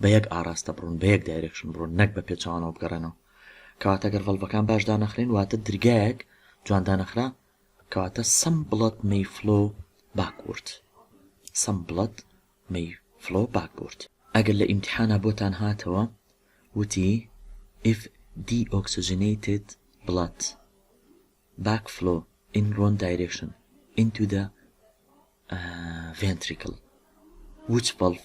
بە یەک ئاراستە بڕۆن بە یەک دایرێکشن بڕۆن نەک بە پێچەوانەوە بگەڕێنەوە کەواتە گەر ڤەڵڤەکان باش دانەخرێن واتە درگایەک جوان دانەخرا کەواتە سەم بڵەت مەی فلۆ باکورد سەم بڵەت مەی فلۆ باکورد ئەگەر لە ئیمتحانا بۆتان هاتەوە وتی if deoxygenated blood backflow in wrong direction into the uh, ventricle which valve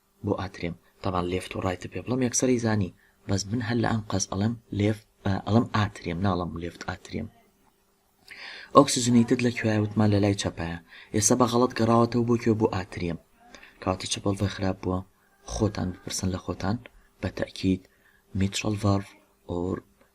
بۆ ئاترێم تەبان لێفت و ڕایتت پێ بڵێم یەکسەر ئەیزانی بەس من هەر لە ئەنقەست ئەڵێم لێفت ئەڵێم ئاترێم ناڵێم لێفت ئاترێم ئۆکسجنیتت لە کوێیە وتمان لە لای چەپایە ئێستا بە غەڵەت گەڕاوەتەوە بۆ کوێ بۆ ئاترێم کەواتە چ بەڵڤە خراپ بووە خۆتان بپرسن لە خۆتان بە تەئکید میترەڵ ڤاڵڤ ئۆر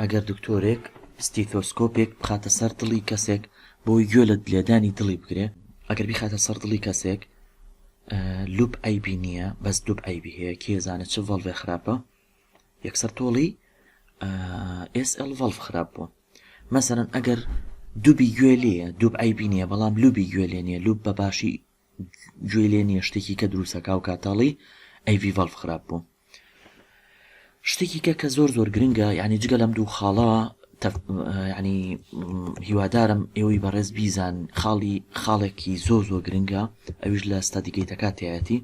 ئەگەر دکتۆرێک ستیثۆسکۆپێک بخاتە سەر دڵی کەسێک بۆی گوێ لە لێدانی دڵی بگرێ ئەگەر بیخاتە سەر دڵی کەسێک لوپ ئەیبی نییە بەس دوب ئەیبی هەیە کێزانە چ ڤڵێ خراپە یەکسەر تۆڵی SL ڤڵف خراپ بووە مەسەرەن ئەگەر دوبی گوێ لێە دوب ئەیبی نییە بەڵام لوبی گوێ لێ نیە لوب بە باشی گوێی لێ نیە شتێکی کە دروستە کاو کاتاڵی ئەی ڤی ڤەڵف خراپ بوو شتێکی کە کە زۆر زۆر گرنگە یعنی جگە لەم دوو خاڵە ینی هیوادارم ئێوەی بەڕێز بیزان خاڵی خاڵێکی زۆ زۆ گرنگە ئەویش لە ستادیگەیتەکاتایەتی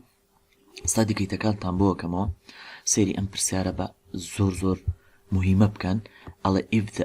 ستادیگەیتەکانتان بۆکەمەوە سێری ئەم پرسیارە بە زۆر زۆر مهمە بکەن ئەڵێ if the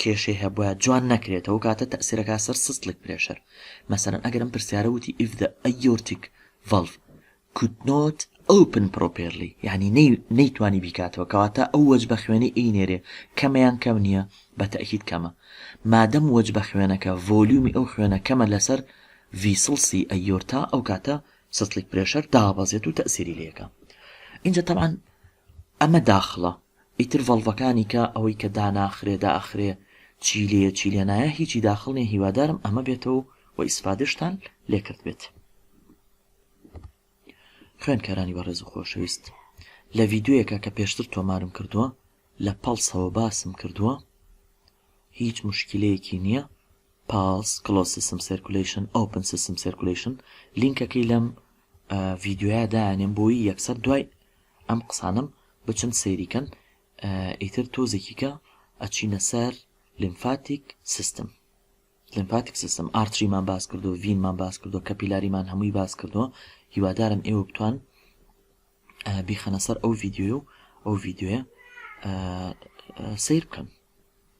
کێشەی هەبوایە جوان نەکرێت ئەو کاتە تەئسیرەکا سەر سستلک پرێشەر مەسەلەن ئەگەر ئەم پرسیارە وتی if the aortic valve could not open properly یعنی نەی نەیتوانی بیکاتەوە کەواتە ئەو وەجبە خوێنەی ئی نێرێ کەمە یان کەم نییە بە تەئکید کەمە مادەم وەجبە خوێنەکە ڤۆلیومی ئەو خوێنە کەمە لەسەر ڤیسڵسی ئەیۆرتا ئەو کاتە سستلک پرێشەر دابەزێت و تەئسیری لێکا ئینجا تەبعەن ئەمە داخڵە ئیتر ڤەڵڤەکانی کە ئەوەی کە داناخرێ دائەخرێ چی لێیە چی لێ نایە هیچی داخڵ نیە هیوادارم ئەمە بێتەوە و ئیسفادەشتان لێ کردبێت خوێنکارانی بەڕێز و خۆشەویست لە ڤیددیویەکە کە پێشتر تۆمارم کردووە لە پەڵسەوە باسم کردووە هیچ مشکلەیەکی نییە Pulse Closed System Circulation Open System Circulation لینکەکەی لەم ڤیدیۆیە دانێم بۆی یەکسەر دوای ئەم قسانم بچن سەیریکەن ئیتر تۆزێکیکە ئەچینە سەر لیمفاتیک سیستم لیمفاتیک سیستم ئارتریمان باس کردو ڤینمان باس کردو کە پیلاریمان هەمووی باس کردووە هیوادارم ئێوە بتوان بیخەنە سەر ئەو ڤیددیو و ئەو ڤیددیوە سیر بکەن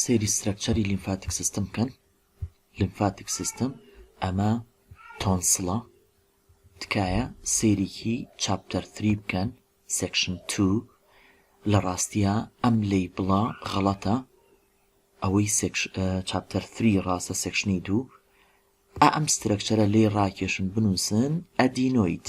سەیری سترەکچەری لیمفاتیک سیستم بکەن لیمفاتیک سیستم ئەمە تۆنسڵە تکایە سەیرێکی چاپتەر 3 بکەن سێکشن 2 لە ڕاستیە ئەم لی بڵا غەڵەتە ئەوەی چاپتەر 3 ڕاستە سێکشنی دوو ئەم سترەکچەرە لی ڕاکێشن بنووسن ئەدینۆیت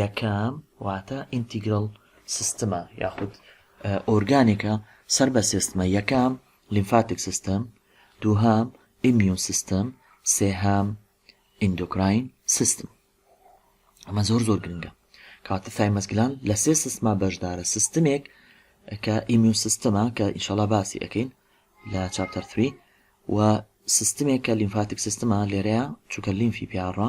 یەکەم، واتە ئینتیگرەڵ سیستمە یاخود ئۆرگانێکە سەر بە سێ ستمە، یەکەم، لیمفاتیک سیستم، دووهەم، ئیمیون سیستم، سێهەم، ئیندۆکراین سیستم. ئەمە زۆر زۆر گرنگە. کاتە ثایمەس گلان لە سێ سیستما بەشدارە سیستمێک کە ئیمیون سیستمە کە ئینشاڵا باسی ئەەکەین لە چاپتەر 3 و سیستمێک کە لیمفاتیک سیستمە لێرەیە چووکە لیمفی پیاڕە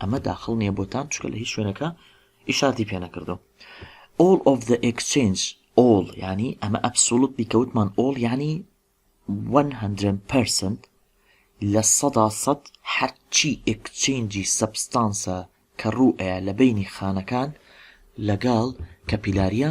ئەمە داخڵ نیە بۆتان چکە لە هیچ شوێنەکە ئیشارتی پێ نەکردو all of the exchange all ینی ئەمە ئەبسولوت بیکەوتمان all ینی 100% لە سەدا سەد هەرچی ئکچینجی سەبستانسە کە ڕوئەیە لە بینی خانەکان لەگەڵ کەپیلاریە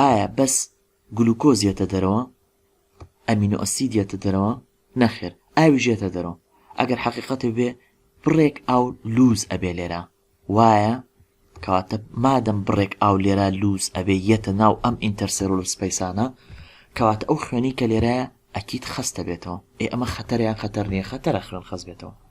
ئایا بەس گلوکۆز یەتە دەرەوە؟ ئەمینۆ ئەسید یەتە دەرەوە؟ نەخێر ئاویش یەتە دەرەوە ئەگەر حەقیقەت بێ بڕێک ئاو لووز ئەبێ لێرە وایە کەواتە مادەم بڕێک ئاو لێرە لووز ئەبێ یەتە ناو ئەم ئینتەرسێرۆل سپەیسانە کەواتە ئەو خوێنی کە لێرە ئەکید خەستە بێتەوە ئێ ئەمە خەتەریان خەتەر نییە خەتەرە خوێن خەست بێتەوە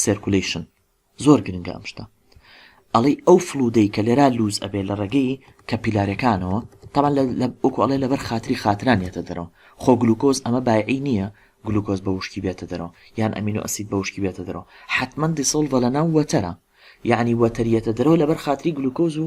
سێرکولەیشن زۆر گرنگە ئەم شتە ئەڵێی ئەو فڵودەی کە لێرا لووز ئەبێ لە ڕێگەی کە پیلارەکانەوە تەبان لە ئۆکو ئەڵێ لەبەر خاتری خاتران یەتە دەرەوە خۆ گلوکۆز ئەمە بایعی نییە گلوکۆز بە وشکی بێتە دەرەوە یان ئەمین و ئەسید بە وشکی بێتە دەرەوە حتمما دیسڵڤە لە ناو وەتەرە یعنی وەتەریەتە دەرەوە لەبەر خاتری گلوکۆز و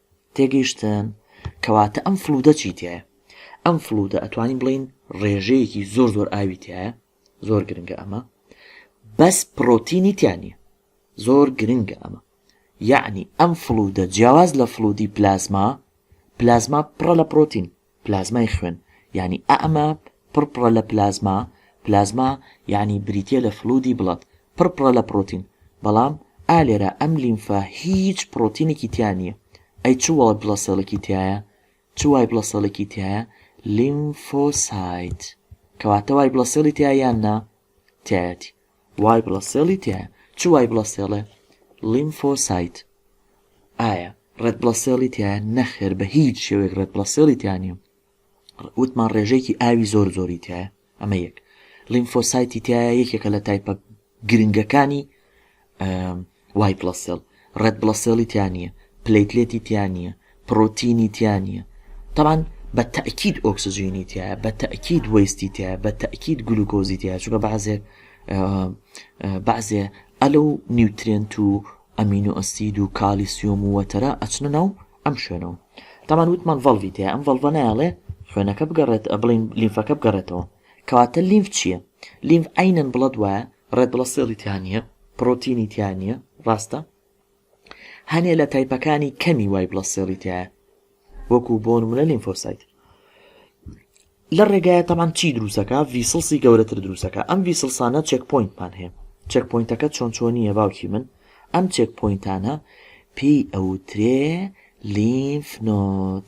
تێگەیشتن، کەواتە ئەم فڵوودە چی تیایە؟ ئەم فڵوودە ئەتوانین بڵێین ڕێژەیەکی زۆر زۆر ئاوی تیایە، زۆر گرنگە ئەمە، بەس پڕۆتینی تیا نییە، زۆر گرنگە ئەمە، یەعنی ئەم فڵوودە جیاواز لە فڵوودی پلازما، پلازما پڕە لە پڕۆتین، پلازمای خوێن یانی ئە ئەمە پڕ پڕە لە پلازما پلازما یانی بریتیە لە فلودی بڵەد پڕ پڕە لە پڕۆتین بەڵام ئا لێرە ئەم لیمفە هیچ پڕۆتینێکی تیا نیە ئەی چ وای بڵەسێڵێکی تیایە چ وای بڵەسێڵێکی تیایە لیمفۆسایت کەواتە وای بڵەسێڵی تیا یان نا تیایەتی وای بڵە سێڵی تیایە چ وای بڵە سێڵێ لیمفۆ سایت ئایا ڕێت بڵە سێڵی تیایە نەخێر بە هیچ شێوێک ڕێت بڵە سێڵی تیانە وتمان ڕێژەیەکی ئاوی زۆر زۆری تایە ئەمە یەک لیمفۆسایتی تایە یەکێکە لە تایپە گرنگەکانی وای بڵەسێڵ ڕێد بڵەسێڵی تیا نیە پلەیتلێتی تیا نیە پڕۆتینی تیا نیە تەبعەن بە تەئکید ئۆکسجینی تیایە بە تەئکید وەیستی تیایە بە تەئکید گلوکۆزی تیایە چونکە بەعزێ بەعزێ ئەلە و نیوترێنت و ئەمین و ئەسید و کالیسیۆم و وەتەرە ئەچنە ناو ئەم شوێنەوە تەمان وتمان ڤەڵڤی تیایە ئەم ڤەڵڤە نایەڵێ خوێنەکە بگەڕێت بڵین لیمفەکە بگەڕێتەوە کەواتە لیمف چییە؟ لیمف عینەن بڵەد وایە ڕێد بڵە سێڵی تیا نیە پڕۆتینی تیا نیە ڕاستە هەنێ لە تایپەکانی کەمی وای بڵە سێڵی تایە وەکو بۆ نمونە لیمفۆسایت لە ڕێگایە تەمان چی دروستەکە ڤیسڵسی گەورەتر دروستەکە ئەم ڤیسڵسانە چێک پوینتمان هەیە چێک پوینتەکە چۆن چۆنیە باوکی من ئەم چێک پوینتانە پێی ئەوترێ لیمف نۆت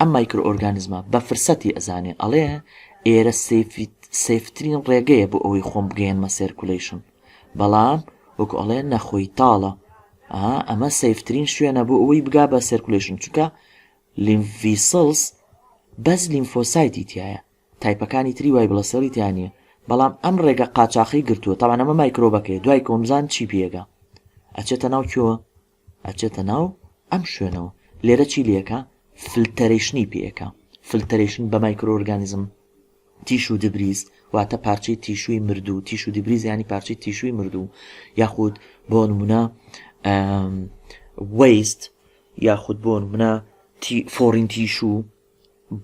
ئەم مایکرۆ ئۆرگانزمە بە فرسەتی ئەزانێ ئەڵێ ئێرە سەیفترین ڕێگەیە بۆ ئەوەی خۆم بگەیەنمە سێرکولەیشن بەڵام وەکو ئەڵێ نەخۆی تاڵە ئەمە سەیفترین شوێنە بۆ ئەوەی بگا بە سێرکولەیشن چونکە لیمڤیسڵس بەس لیمفۆسایتی تایە تایپەکانی تری وای بڵە سێڵی تیانە بەڵام ئەم ڕێگە قاچاخی گرتووە تاوانەمە مایکرۆبەکەی دوای کۆمزان چی پێگە ئەچێتە ناو کیۆوە ئەچێتە ناو ئەم شوێنەوە لێرە چی لێکا فلتەرەیشنی پێکا فلتەرەیشن بە مایکرۆ ئۆرگانیزم تیش و دبریز واتە پارچەی تیشووی مردوو تیش و دبریز ینی پارچەی تیشووی مردوو یاخود بۆ نمونە وەیست یاخود بۆ منە فۆڕین تیشوو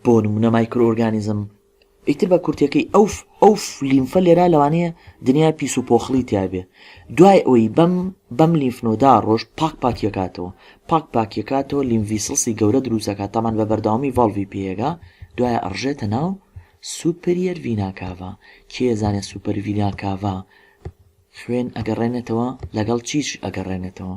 بۆ نمونە مایکرۆ ئۆرگانیزم ئیتر بە کورتەکەی ئەو ئەو لیمفە لێرا لەوانەیە دنیا پیس و پۆخڵی تیاابێ دوای ئەوی بەم بەم لیمفنۆدا ڕۆژ پاک پاکیەکاتەوە پاک پاکیەکاتەوە لیمڤسلسی گەورە دروستەکە تامان بە بەردەوامی ڤڵڤی پێگا دوای ئەڕژێتە ناو سوپریەر ڤیناکاڤا کێزانێ سوپەر ڤیناکاڤا خوێن ئەگەڕێنێتەوە لەگەڵ چیش ئەگەڕێنێتەوە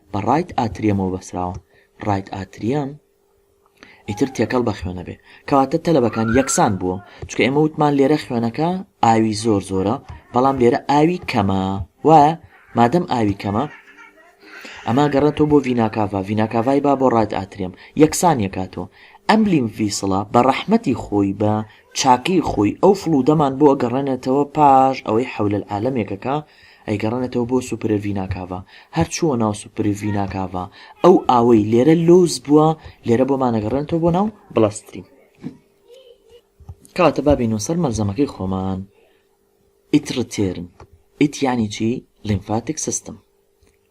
بە ڕایت ئاتریەمەوە بەسراوە ڕایت ئاتریەم ئیتر تێکەڵ بە خوێنە بێ کەواتە تەلەبەکان یەکسان بووە چکە ئێمە وتمان لێرە خوێنەکە ئاوی زۆر زۆرە بەڵام لێرە ئاوی کەمە وایە مادەم ئاوی کەمە ئەما گەڕێتەوە بۆ ڤیناکاڤا ڤیناکاڤای با بۆ ڕایت ئاترێم یەکسان یەکاتەوە ئەم لیم ڤیسڵە بە ڕەحمەتی خۆی بە چاکەی خۆی ئەو فڵودەمان بۆ گەڕێنێتەوە پاش ئەوەی حەولەل عالەمێکەکە ئەیگەڕێنێتەوە بۆ سوپرڤیناکاڤا، هەر چووە ناو سوپرڤیناکاڤا، ئەو ئاوەی لێرە لووس بووە، لێرە بۆمان ئەگەڕێنێتەوە بۆ ناو بڵەستریم. کەواتە با بێینەوە سەر مەلزەمەکەی خۆمان، ئیتڕتێرن، ئیت یانی چی؟ لیمفاتیک سیستم.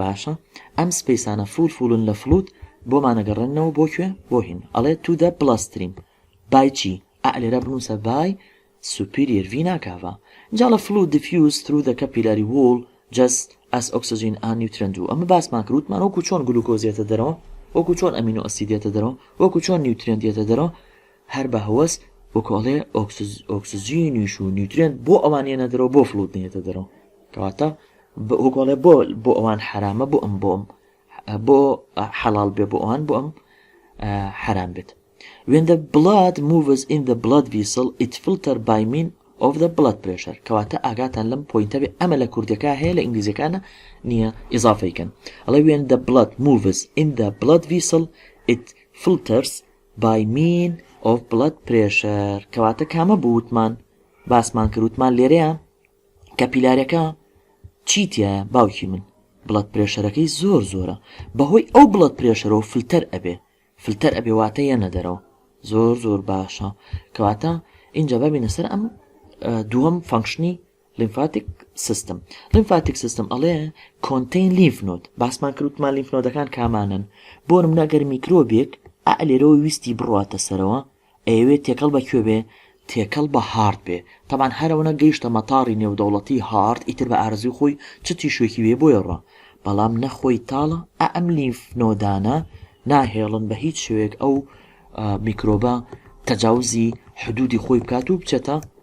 باشە ئەم سپەیسانە فوول فوولن لە فڵووت بۆمان ئەگەڕێننەوە بۆ کوێ بۆ هین ئەڵێ تو دە بڵە ستریم بای چی ئەع لێرە بنووسە بای سوپیریەر ڤینا کاڤا جا لە فڵووت دیفیوز ترو دە کەپیلاری ووڵ جەس ئەس ئۆکسجین ئا نیوترێن دوو ئەمە باسمان کرد وتمان وەکوو چۆن گلوکۆز یەتە دەرەوە وەکوو چۆن ئەمینۆ ئەسید یەتە دەرەوە وەکوو چۆن نیوترێنت یەتە دەرەوە هەر بە هەوەس وەکو ئەڵێ ئۆکسجینیش و نیوترێنت بۆ ئەوان یەنە دەرەوە بۆ فڵوت نێتە دەرەوە کەواتە وەگۆڵێ بۆ بۆ ئەوان حرامە بۆ ئەم بۆم بۆ حەڵال بێ بۆ ئەوان بۆ ئەم حرام بێت when the blood moves in the blood vessel it filter by mean of the blood pressure کەواتە ئاگاتان لەم پوینتە بێ ئەمە لە کوردەکە هەیە لە ئینگلیزەکانە نییە ئضافەیکەن ئەڵێ when the blood moves in the blood vessel it filters بای مین ئۆف بڵەد پرێشەر کەواتە کامە بوو وتمان باسمان کرد وتمان لێرەیە کەپیلارەکە چی تایە باوکی من بڵەت پرێشەرەکەی زۆر زۆرە بەهۆی ئەو بڵەت پرێشەرەوە فلتەر ئەبێ فلتەر ئەبێ واتە یە نەدەرەوە زۆر زۆر باشە کەواتە اینجا ببینە سەر ئەم دووەم فەنکشنی لیمفاتیک سیستم Lymphatic system ئەڵێ Contain lymph node باسمان کرد وتمان لیمف نۆدەکان کامانەن بۆ نمونە گەر میکرۆبێک ئا لێرەوە ویستی بڕواتە سەرەوە ئەیەوێت تێکەڵ بە کوێ بێ تێکەڵ بە هارد بێ تەبان هەرەوەە گەیشتە مەتاڕی نێودەوڵەتی هارد ئیتر بە ئارزوی خۆی چ تیشوێکی وێ بۆیە ڕە بەڵام نەخۆی تاڵە ئا ئەم لیمف نۆدانە ناهێڵن بە هیچ شوێک ئەو میکرۆبە تەجاوزی حدودی خۆی بکات و بچێتە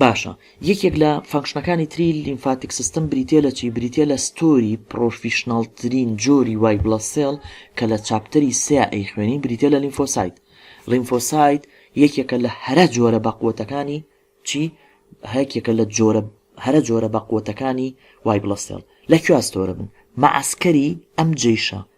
باشە یەکێک لە فەنکشنەکانی تری لیمفاتیک سیستم بریتە لە چی بریتە لە ستۆری پرۆفیشنناڵترین جۆری وای بڵە سێڵ کە لە چاپتەری سێ ئەی خوێنی بریتە لە لیمفۆسایت لیمفۆسایت یەکێکە لە هەرە جۆرە بەقوتەکانی چی هەکێکە لە جۆرە هەرە جۆرە بەقوتەکانی وای بڵە سێڵ لە کوێستۆرە بن مەعسکەری ئەم جیشە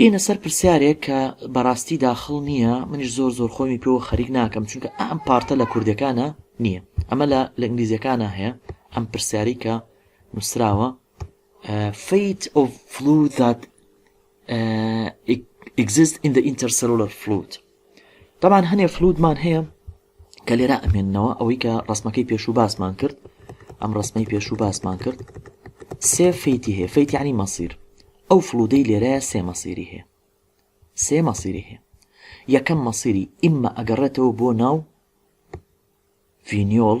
یینە سەر پرسیارێک کە بەڕاستی داخڵ نییە منیش زۆر زۆر خۆمی پێوە خەریک ناکەم چونکە ئەم پارتە لە کوردەکانە نییە ئەمە لە لە ئینگلیزیەکانە هەیە ئەم پرسیاری کە نووسراوە فیت ئۆف فلو دات ئیگزست ئین دە ئینتەرسەلۆلەر فلوت دەبان هەنێ فلوتمان هەیە کە لێرە ئەمێننەوە ئەوەی کە ڕسمەکەی پێشوو باسمان کرد ئەم ڕسمەی پێشوو باسمان کرد سێ فیتی هەیە فیتیانی مەسیر ئەو فلودەی لێرەیە سێ مەسیری هەیە سێ مەسیری هەیە یەکەم مەسیری ئیمە ئەگەڕێتەوە بۆ ناو فینیۆل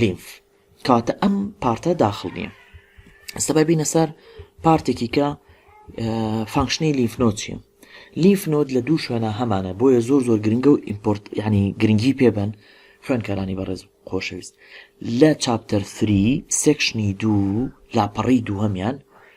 لیمف کەواتە ئەم پارتە داخل نییە ئستا ببینە سەر پارتێکی کە فانکشنی لیفنۆ چیە لیفنۆت لە دوو شوێنە هەمانە بۆیە زۆر زۆر گرنگە و ئیمپۆرت ینی گرنگی پێبن خوێنکارانی بەڕێز خۆشەویست لە چاپتەر فری سێکشنی دوو لاپەڕی دووهمیان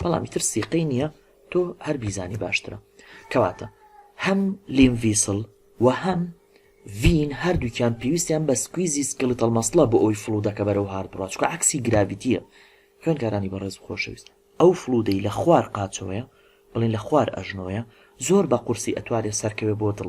بەڵام ئیتر سیقەی نیە تۆ هەر بیزانی باشترە کەواتە هەم لیم ڤیسڵ و هەم ڤین هەردووکیان پێویستیان بە سکویزی سکلیتەڵ مەسڵە بۆ ئەوی فڵودەکە بەرەو هارد بڕا چکە عکسی گراڤیتیە خوێنکارانی بەڕێز خۆشەویست ئەو فڵودەی لە خوار قاچەوەیە بڵین لە خوار ئەژنۆیە زۆر بە قورسی ئەتوانێ سەرکەوێ بۆ دڵ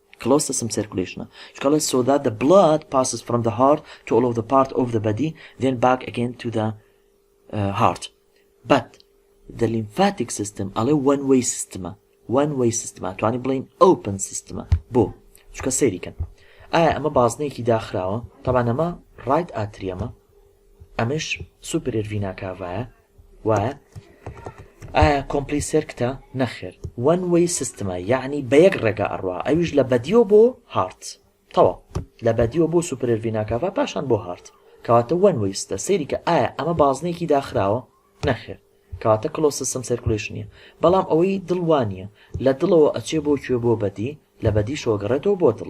کلۆز تە سم سێرکولەیشنە چونکە ئەڵێ سۆ دات دە بڵاد پاسس فرۆم دە هارت تو ئۆڵ ئۆف دە پارت ئۆف دە بەدی دێن باک ئەگەین تو دە هارت بەت دە لیمفاتیک سیستم ئەڵێ وەن وەی سیستمە وەن وەی سیستمە توانی بڵێین ئەوپن سیستمە بۆ چونکە سەیری کەن ئایا ئەمە بازنەیەکی داخراوە تەبانەمە ڕایت ئاتریەمە ئەمەش سوپرێر ڤیناکاڤایە وایە؟ ئایا کۆمپلی سێرکتە؟ نەخێر وەن وەی سیستمە یەعنی بە یەک ڕێگا ئەڕوا ئەویش لە بەدیۆ بۆ هارت تەواو لە بەدیۆ بۆ سوپرەر ڤیناکاڤا پاشان بۆ هارت کەواتە وەن وەی ستە سەیری کە ئایا ئەمە بازنەیەکی داخراوە؟ نەخێر کەواتە کلۆز سیستم سێرکولەیشن نیە بەڵام ئەوەی دڵ وا نیە لە دڵەوە ئەچێ بۆ کوێ بۆ بەدی لە بەدیشەوە گەڕێتەوە بۆ دڵ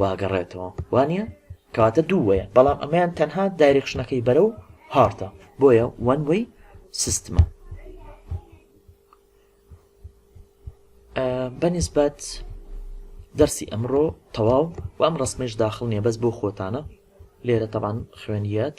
واگەڕێتەوە وانیە کەواتە دوو وەیە بەڵام ئەمەیان تەنها دایرکشنەکەی بەرە و هارتە بۆیە وەن وەی سیستمە بەنیسبەت دەرسی ئەمڕۆ تەواو و ئەم ڕسممەش داخل نیە بەس بۆ خۆتانە لێرە تەبان خوێنیت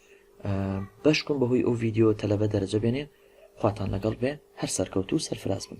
بەشکم بەهۆی ئەو ڤیدیۆ تەلەبە دەرەجە بێنێ خواتان لەگەڵ بێ هەر سەرکەوتوو سەرفراز بن.